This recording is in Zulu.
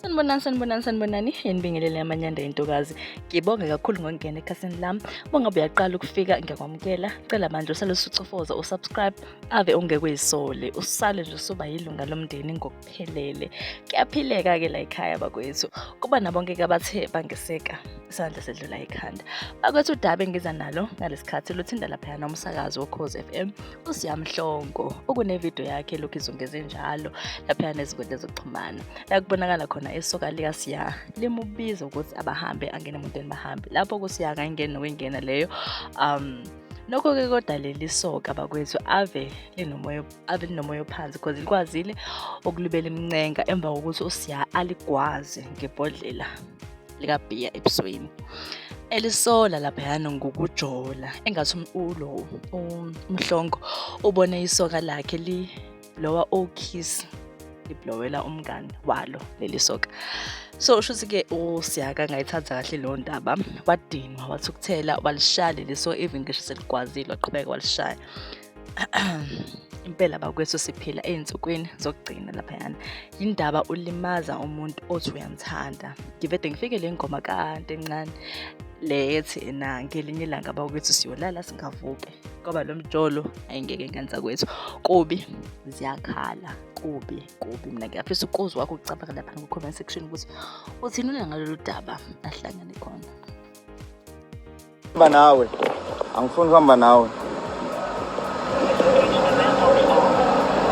sanibonani sanibonani sanibonani yenibingelele amanyanda yentokazi ngibonge kakhulu ngokungena ekhasini lami bongabe uyaqala ukufika ngiyakwamukela cela manje usale usucofoza usubscribe ave ungekweyisole usale nje usuba yilunga lomndeni ngokuphelele kuyaphileka-ke la ekhaya bakwethu kuba nabonke-ke abathe bangeseka isandla sedlula ekhanda bakwethu udaba engiza nalo ngalesi khathi luthinda laphayana umsakazi wokhozi f m usiyamhlongo ukunevidiyo yakhe elokhu izungeze njalo laphaya nezinkundla zokuxhumana la kubonakala khona isoka likasiya limubiza ukuthi abahambe angene emotweni bahambe lapho kusiya kangeni nokwengena leyo um nokho-ke kodwa leli soka bakwethu ave linomoya ave linomoya ophansi because likwazile ukulibela imincenga emva kokuthi usiya aligwaze ngebhodlela likabhiya ebusweni elisola laphayana ngokujola engathi umculo umhlongo ubone isoka lakhe li lowa okiss liblowela umngani walo leli soka so usho ukuthi ke usiyaka ngayithatha kahle leyo ndaba wadinwa wathi ukuthela walishaya leli so even ngisho seligwazile waqhubeka walishaya impela bakwethu siphila ezinsukwini zokugcina laphayana indaba ulimaza umuntu othi uyamthanda ngivede ngifike le ngoma kade encane le ethi na ngelinye ilanga bakwethu siyolala singavuke ngoba lo mjolo ayingeke ngenza kwethu kubi ziyakhala kubi kubi mina ngiyafisa ukuzi wakho ukucabanga lapha ku-comment section ukuthi uthini unangalolu daba ahlangane khona Hamba nawe. Angifuni kuhamba nawe.